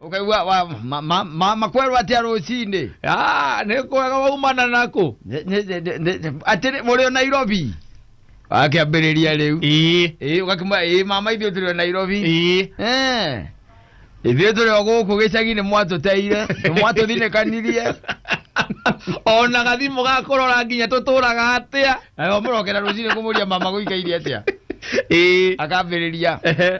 Ũkaigua wa- ma- ma- ma- makwerwo atĩa rũcinĩ? Ah, nĩ kwega waumana naku Nĩ- nĩ- nĩ- nĩ- nĩ- Atĩ nĩ- mũrĩ o Nairobi? Akĩambĩrĩria rĩu. ii Ĩĩ, ũgakĩmwĩra, "Ĩĩ, mama ithuĩ tũrĩ o Nairobi." ii Eh, ithuĩ tũrĩ o gũkũ gĩcagi-inĩ mwatũteire mwatũthinĩkanirie ona gathimũ gakũrora nginya tũtũraga atĩa nayo mũrokera rũcinĩ kũmũria mama gũikairie atĩa ii akambĩrĩria Ehe.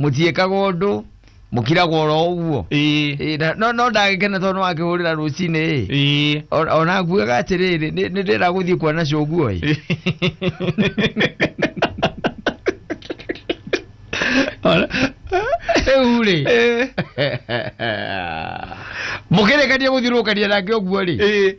mũtiĩkaga ũndũ mũkiragwo oro ũguo ĩĩ Ĩ, na- no no ndagĩkena tondũ wakĩhũrĩra rũcinĩ ĩ ĩĩ O- ona akuaga atĩrĩrĩ nĩ nĩ ndĩra gũthiĩ kuona cũguo ĩ rĩu rĩ mũkĩrĩkania gũthiũrũkania nake ũguo rĩ ĩĩ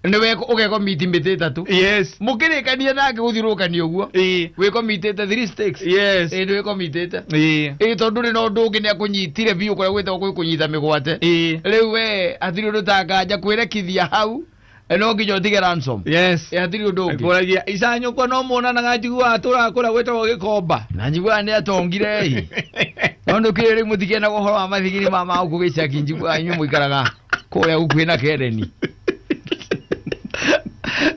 nĩwe ũgekomiti mĩtĩ ĩtatũ yes mũkĩrĩkania nake gũthiũrũrũkania ũguo ĩ wĩkomitĩte three stakes yes ĩ nĩwĩkomitĩte ĩ ĩ tondũ rĩ na ũndũ ũngĩ nĩakũnyitire biũ kũrĩa gwĩtagwo gwĩ kũnyita mĩgwate ĩ rĩu we hatirĩ ũndũ ta nganja kwĩrekithia hau eh, no nginya ũtige ransom yes Eh, hatirĩ ũndũ ũngĩ kuragia icanyũkwa no muonanaga njiguaga tũraga kũrĩa gwĩtagwo gĩkomba na njiguaga nĩ atongire ĩ no nĩũkĩrĩ rĩu mũtikenagwo ũhoro wa mathigiri ma magũkũ gĩcaki njiguaga inyuĩ mũikaraga kũrĩa gũkuhĩ na kereni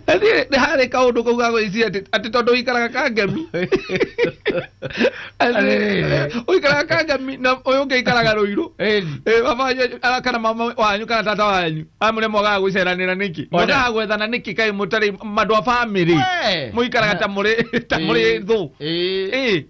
Athiĩ- nĩ harĩ kaũndũ kau gagwĩciria atĩ- atĩ tondũ ũikaraga kangemi Atĩ- ũikaraga kangemi na ũyũ ũngĩ aikaraga rũirũ Ĩni. Eh, baba wanyu ara- kana mama wanyu kana tata wanyu amũrĩa mwagaga gwĩceranĩra nĩkĩ One. mwagaga gwethana nĩkĩ kaĩ mũtarĩ mandũ a bamĩrĩ We. mũikaraga ta mũrĩ ta mũrĩ thũ Ĩĩ. Ĩĩ.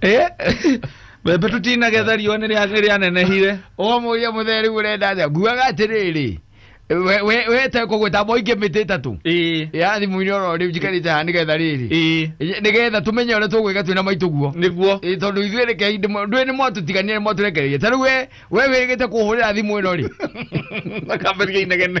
Eh? mbembe tũtinagetha riũa nĩ rĩa- nĩ rĩanenehire ũkamũria mũthee rĩu ũrenda atĩa nguaga atĩrĩrĩ we- we- wete kũgwĩta moingĩ mĩtĩ ĩtatũ Ĩĩ, ya thimũ-inĩ oro rĩu njikarĩte haha nĩgetha rĩrĩ ĩĩ, nĩgetha tũmenye ũrĩa tũgwĩka twĩna maitũ guo nĩguo Ĩĩ, tondũ ithuĩ reke hindĩ mo- ndwĩ nĩ mwatũtiganire mwatũrekereire ta rĩu we we wĩgĩte kũhũrĩra thimũ ĩno rĩ akambĩria inegene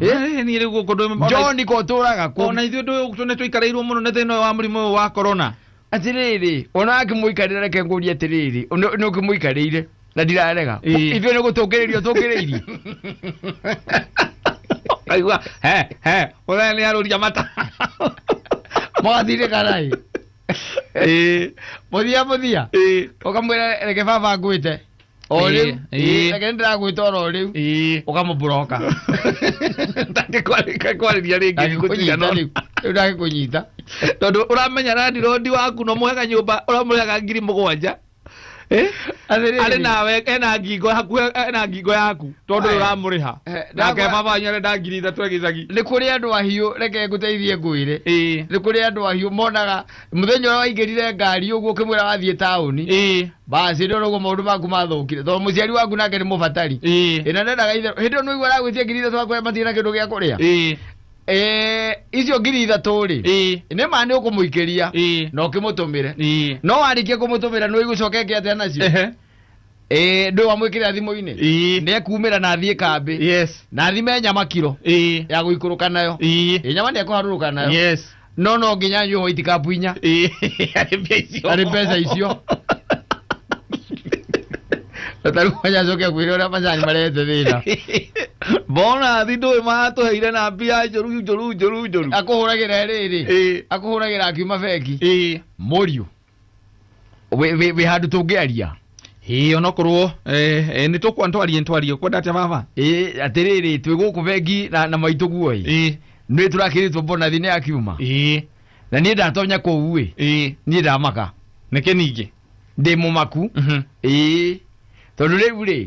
Eh, ni riu guko ndu njoni kotũraga kũ ona ithuĩ ndu tune tuikareirwo muno ni thina wa murimu uyu wa corona atĩrĩrĩ ona akĩmũikarĩra reke ngũrie atĩrĩrĩ nĩ ũkĩmũikarĩire na ndirarega Ĩĩ. ithuĩ nĩ gũtũngĩrĩrio tũngĩrĩirie aigua he he uthaya ni aruria mata mũgathirĩka naĩ eh mũthia mũthia eh ũkamwĩra reke baba ngwĩte o Ĩĩ, rĩu ĩĩ. reke nĩndĩragwĩta oro rĩu ĩĩ ũkamũbũroka ndangĩkwarĩka kwarĩria rĩngĩ gũtigana rĩu ndangĩkũnyita tondũ ũramenya randirodi waku no mũhega nyũmba ũramũrega ngiri mũgwanja Eh? Atĩrĩrĩ. arĩ nawe ena ngingo hakuhĩ ena ngingo yaku tondũ Aya. ũramũrĩha Eh, nake ndakwa- baba wanyu arenda ngiri ithatũ ya gĩcagi nĩ kũrĩ andũ ahiũ reke ngũteithie ngwĩre ĩĩ nĩ kũrĩ andũ ahiũ monaga muthenya ũrĩa waingĩrire ngari ũguo ũkĩmwĩra wathiĩ taũni ĩĩ basi ndio ũguo maũndũ maku mathũkire tondũ mũciari waku nake nĩ mũbatari ĩĩ ĩna ndendaga itherũ hĩndĩ ĩyo nĩũigua aragwĩtia ngiri ithatũ akũhe matirĩ na kĩndũ gĩa kũrĩa ĩĩ Eh, icio ngiri ithatũ rĩ ĩĩ nĩ ma nĩ ũkũmũikĩria ĩĩ na ũkĩmũtũmĩre ĩĩ no warĩkia kũmũtũmĩra nĩ ũigũcoka eke atĩa nacio ehe Eh, ndũĩ wamwĩkĩrĩra thimũ-inĩ Ii. nĩ ekumĩra na athiĩ kambĩ Yes. na athime nyama kiro Ii. ya gũikũrũka nayo Ii. Ĩ, nyama nĩ ekũharũrũka nayo Yes. no no nginya nyue white cup inya Ii. Arĩ mbeca icio. arĩ mbeca icio tarĩu manya acoke akwĩre ũrĩa macani marehete thĩna Bona thi ndũĩ matũheire na mbia njũru njũru njũru njũru. akũhũragĩra rĩrĩ Ii. akũhũragĩra akiuma bengi Ii. mũriũ wĩ- wĩ wĩ handũ tũngĩaria ĩĩ onokorwo eh, eh, nĩ tũkwa ntwarie ntwarie kwenda atĩa baba Ĩ, atĩrĩrĩ twĩ gũkũ bengi na, na maitũ guoĩ ĩĩ nĩ tũrakĩrĩtwo bonathi nĩ ya kiuma ĩĩ na niĩ ndatonya kũu ĩ ĩĩ niĩ ndamaka nĩkĩ ningĩ ndĩ mũmaku Mhm. ĩĩ tondũ rĩu rĩ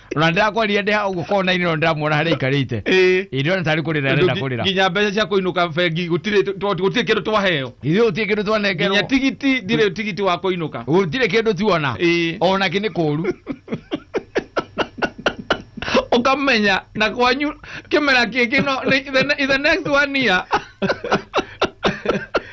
ona ndĩrakwaririe ndĩ hau ũguo konainĩ no ndĩramuona harĩa aikarĩte Ĩĩ. ĩndĩ ona tarĩ kũrĩra arenda Ndũ- kũrĩra nginya mbeca cia kũinũka bengi gũtirĩ tũ- tũ- gũtirĩ kĩndũ twaheo ithuĩ gũtirĩ kĩndũ nginya twanengerwo tigiti ndirĩ tigiti wa kũinũka gũtirĩ kĩndũ tuona Ĩĩ. ona kĩ nĩ kũũru ukamenya na kwanyu kimera kiki no ni- the, ne- the next one year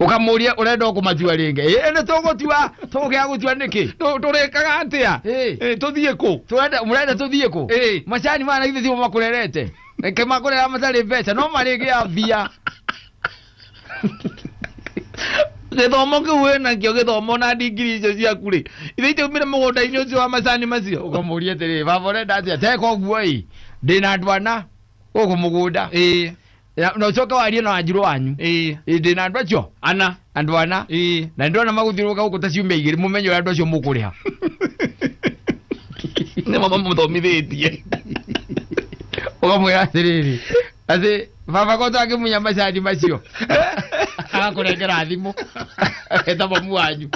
ukamuria urenda ukumatua ringi ĩ nĩ tũgũtua tũgũkĩa gũtua nĩkĩ Tũ- tũrĩkaga atia Ĩ. Ĩ, tũthiĩ kũ Tũrenda- mũrenda tũthiĩ kũ Ĩ. macani mana ithe timo makũrerete reke makũrera matarĩ mbeca no marĩgĩa mbia gĩthomo kĩu wĩnakio gĩthomo na ndigiri icio ciaku rĩ ithe itaumire mũgũnda-inĩ ũcio wa macani macio ũkamũria atĩrĩ baba ũrenda atĩa teka ũguo ĩ ndĩna andwana gũkũ mũgũnda ĩĩ Na- na ucoke warie na wanjiru wanyu ĩĩ ĩndĩ na andũ acio ana andũ ana ĩĩ na ndona magũthiũrũka gũkũ ta ciumia igĩrĩ mũmenye ũrĩa andũ acio mũkũrĩha nĩ mama mũthomithĩtie ũkamwĩra atĩrĩrĩ atĩ baba kota akĩmunya macani macio agakũrengera thimũ eta mamu wanyu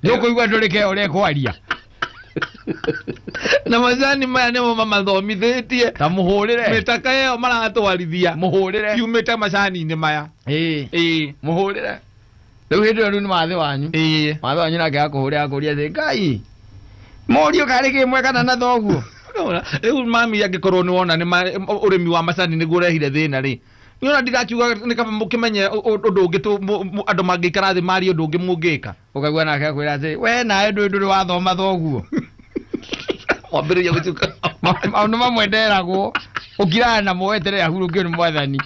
nĩũkũigua ndũrĩ keo ũrekwaria na macani maya nĩmo mamathomithĩtie ta må hå rä re mĩtaka ĩyo maratwarithia må hå rä re yumĩte macani-inĩ maya ĩĩ ĩĩ må hå rä re rä u hä ndä ä yo rä u nä mathä wanyu ĩĩ mathä wanyu nake akå hå rä akå ria thä ngai morio karä kä mwe kana na thoguo Nĩwona? rĩu mami angĩkorwo nĩ wona nĩ ma- ũrĩmi wa macani nĩguo ũrehire thĩna rĩ nĩona ndigakiuga nĩ kaba mũkĩmenye ũ- ũ- ũndũ ũngĩ tũ- mũ- mũ- andũ mangĩikara thĩ marie ũndũ ũngĩ mũngĩka ũkaigua nake akwĩra atĩ we nawe ndũĩ ndũrĩ wathoma thoguo wambĩrĩria gũtuka maũndũ mamwe nderagwo ũkiraga namo weterere ahurũkio nĩ mwathani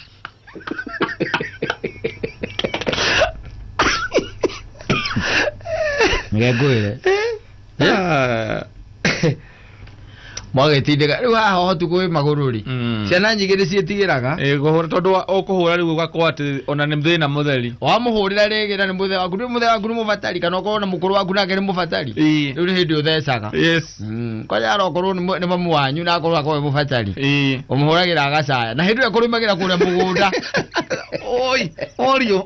ngengwĩre Ah. mwagĩtindĩka rĩu haha ũhotu kwĩ magũrũ rĩ Mm. ciana nyingĩ nĩ ciĩtigĩraga Eh, kũhũra tondũ wa- ũkũhũra rĩu ũgakorwo atĩ ona nĩ thĩna mũtheri wamũhũrĩra rĩngĩ na nĩ mũthee waku nĩ mũthee waku nĩ mũbatari kana ũkorwo na mũkũrũ waku nake nĩ mũbatari Ĩĩ. rĩu nĩ hĩndĩ ũthecaga yes kwaja arokorwo nĩ mũ- nĩ mamu wanyu na akorwo akorwo nĩ mũbatari Ĩĩ. ũmũhũragĩra agacaya na hĩndĩ ĩyo kũrĩmagĩra kũrĩa mũgũnda oi orio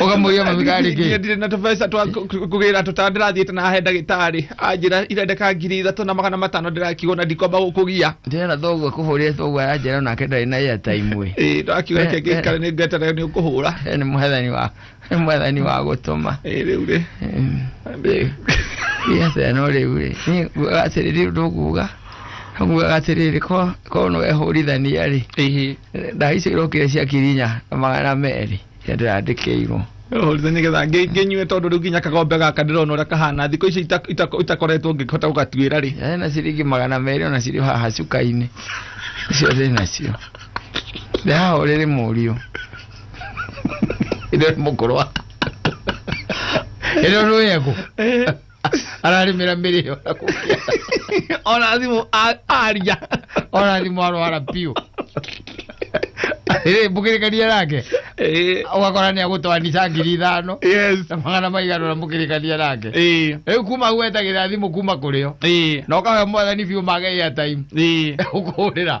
ukamuia mami kari Niĩ ki ndirĩ na tũbeca twa kũ- kũ- kũgĩra tũtawa ndĩrathiĩte na he ndagĩtarĩ anjĩra irendeka ngiri ithatũ na magana matano ndĩrakigwo na ndikwamba gũkũgia ndĩrenda thoguo kũhũrĩre thoguo aranjĩra nake ndarĩ na ya taimu ĩ ndakiuga Eh, reke ngĩikare eh. nĩ ngweterera nĩ ũkũhũra nĩ mwathani wa nĩ mwathani wa gũtũma ĩ rĩu rĩ Em, rĩu. Ĩ atĩa no rĩu rĩ Nĩ- atĩrĩrĩ ũndũ nguga Amugaga atĩrĩrĩ ko ko no ehũrithania rĩ ĩhĩ ndawa icio irokire cia kirinya na magana merĩ cia ndĩrandĩkĩirwo hũrithania nĩgetha ngĩ- ngĩnyue tondũ rĩu nginya kagombe gaka ndĩrona ũrĩa kahana thikũ ici ita- ita- itakoretwo ngĩhota gũgatuĩra rĩ Yarĩ na ciringi magana merĩ ona cirĩ haha cuka-inĩ icio ndĩ nacio ndĩrahũrĩrĩ mũriũ ĩno nĩ mũkũrwa ĩno nĩ wegũ ararĩmĩra mĩrĩo na kũgĩa ona thimũ a- aria ona thimũ arwara biũ Rĩ, mũkĩrĩkania nake Eh, ũgakora nĩ agũtwanica ngiri ithano yes na magana maigana na mũkĩrĩkania nake Eh, rĩu kuma hau wetagĩra thimũ kuma kũrĩo eh, na ũkahe mwathani biũ mage airtime eh. ũkũhũrĩra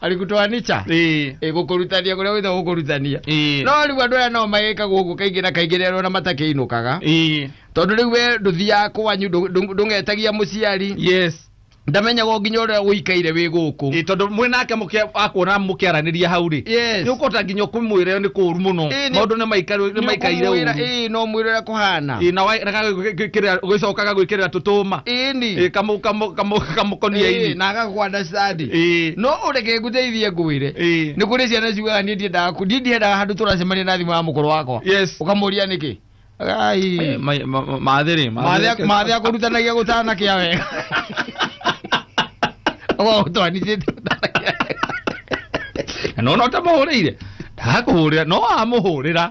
arikutwanica ĩĩ ĩgũkũrutania kũrĩa wĩtha gũkũrutania ĩĩ no rĩu andũ aya nao magĩkaga ũguo kaingĩ na kaingĩ rĩrĩa ona matakĩinũkaga ĩĩ tondũ rĩu we ndũthiaga kwanyu ndũ- ndũ- ndũngetagia mũciari yes ndamenyaga o nginya ũrĩa ũikaire wĩ gũkũ ĩĩ tondũ mwĩ nake mũkĩa- akuona mũkĩaranĩria hau rĩ Yes. nĩ ũkũhota nginya kũmwĩra nĩ kũũru mũno Ĩĩ, nĩ- maũndũ nĩ maikaire nĩ maikaire Nĩũkũmwĩra, ũũru ĩĩ no mwĩra ũrĩa kũhana ĩĩ na waregaga gwĩkĩrĩra- gwĩcokaga gwĩkĩrĩra tũtũma ĩni ĩĩ kamũ- kamũ- kamũ- kamũkonia-inĩ na agagũkwa ndacitandi Ĩĩ. no ũreke ngũteithie ngwĩre Ĩĩ. nĩ kũrĩ ciana ciugaga niĩ ndiendaga ku- niĩ ndiendaga handũ tũracemania na thimũ ya mũkũrũ wakwa Yes. ũkamũria nĩkĩ Ai. Eh, ma- ma- ma- mathĩ rĩ Mathĩa- mathĩa kũrutanagia gũtanakĩa wega gũtwanithĩte gũtanakĩa wega nona ũtamũhũrĩire ndakũhũrĩra no wamũhũrĩra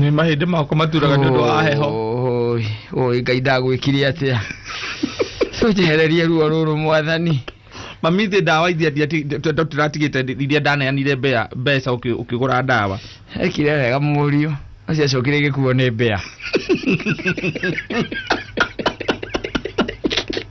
nĩ mahĩndĩ makwa maturaga nĩ ũndũ wa heho Oi, oi ngai ndagwĩkire atĩa tũnjehererie ruo rũrũ mwathani mami thĩ ndawa iria tũratigĩte iria ndaneanire mbea mbeca ũkĩ- ũkĩgũra ndawa ekire wega mũriũ acio acokire gĩkuo nĩ mbea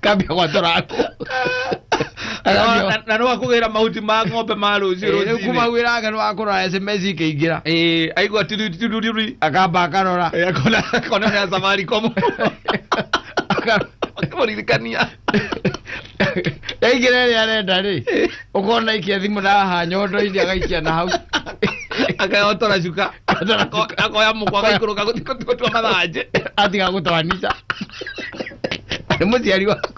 kambia gwatora ngũ Na- na no akugĩra mahuti ma ng'ombe ma rũciũ rũcinĩ kumagwĩra ake nĩwakũrora sms ikĩingĩra Eh, aigua tiruritiruri akamba akarora akona akona nĩ ya safaricom Aka- akĩmũririkania yaingĩra ĩrĩa arenda rĩ ũkona ikia thimũ na haha nyondo-inĩ agaikia na hau akayotora cuka Ako- akoya mũkwa agaikũrũka gũthiĩ gũtua mathanjĩ atiga gũtwanica nĩ mũciari waku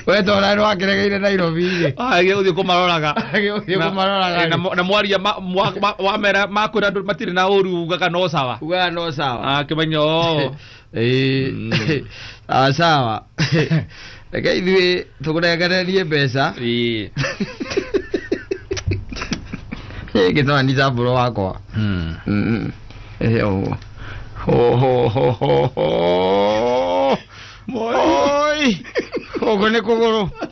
wetora nĩ wakeregeire nairobi-rĩ agä gå thiä kå maroraga agĩũthiĩ Na- kũmaroraga na mo- na mwaria ma- mwa- ma- wamera makwä ra andå matirä na å ru uga kana å sawa ugaa no sawa akä menya o Ĩĩ. Mm. Ah, sawa reke ithuĩ tũkũrengererie mbeca Ĩĩ. gĩtara ni cambũro wakwa Mm. Mm. Ĩĩ, ũguo. Ho, ho, ho, ho, ho. Oi. gũkũ nĩ kũgũrũ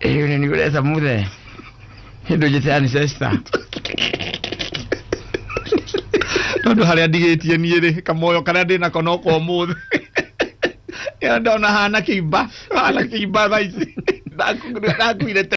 Hiyo ni yule Samuthe. Hindu jete ancestor. tondu haria ndigĩtie niĩ rĩ kamoyo karia ndĩ nako no kwa ũmũthĩ Ĩyo ndona hana kĩimba hana kĩimba thaa ici ndakuire tene